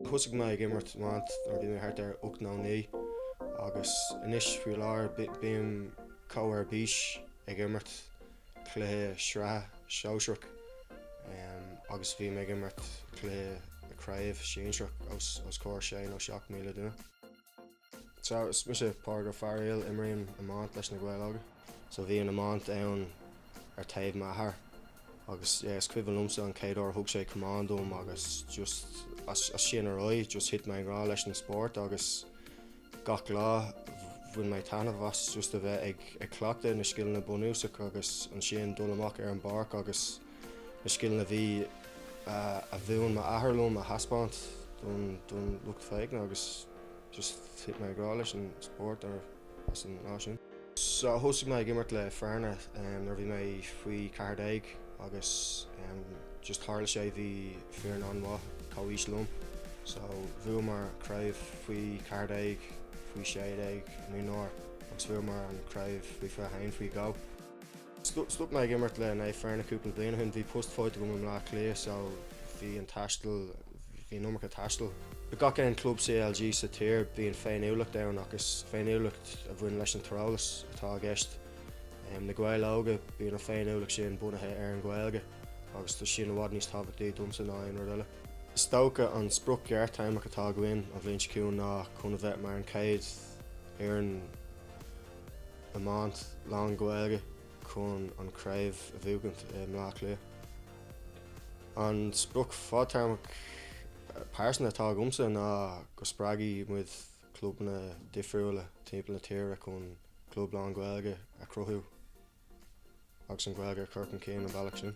Thosaigh mé ag imirt iomáint nuair a bhí mé thart ar ocht nó naoi agus anois faoi láthair bím chomh ar bís ag imirt cluiche sraithe sóisearach agus bhím ag imirt cluiche craobh sinsearach os comhair sé nó seacht míle duine. So, is mise Pádraig Ó Fearaíl, imrím iomáint leis Na Gaeil Óga. So bhí an iomáint ann ar taobh m'athar agus yeah, is cuimhin liomsa an chéad uair thug sé camán dom agus just as, as sin ar aghaidh just thit mé i ngrá leis an spórt agus gach lá bhain mé taitneamh as just a bheith ag, ag cleachtadh na scileanna bunúsacha agus ansin dul amach ar an bpáirc agus na scileanna a bhí a mhúin m'athair liom a thaispeáint don lucht féachana agus just thit mé i ngrá leis an spórt as an lá sin. So thosaigh mé ag imirt le Fearna nuair a bhí mé faoi cheathar déag agus just tharla sé bhí foireann an-mhaith comhaois liom so bhuamar craobh faoi cheathar déag, faoi sé déag, mionúir agus bhuamar an chraobh faoi fiche haon faoi dhó. Stop mé ag imirt le Naomh Fearna cúpla bliain ó shin. Bhí post faighte agam i mBleá Cliath so bhí an taisteal, bhí an iomarca taistil. Le gach aon club CLG sa tír bíonn féiniúlacht ann ach is féiniúlacht a bhaineann leis an tíreolas atá i gceist. Na Gaeil Óga, bíonn an féiniúlacht sin bunaithe ar an Ghaeilge agus tá sin i bhfad níos tábhachtaí domsa ná aon rud eile. Is dócha an sprioc ghearrthéarmach atá againn an bhliain seo chugainn ná chun a bheith mar an chéad fhoireann, iomáint lán-Ghaeilge chun an chraobh a bhuachaint i mBleá Cliath. An sprioc fadtéarmach pearsanta atá agamsa ná go spreagfaidh muid clubanna difriúla timpeall na tíre chun club lán-Ghaeilge a chruthú agus an Ghaeilge a chur chun cinn an bealach sin.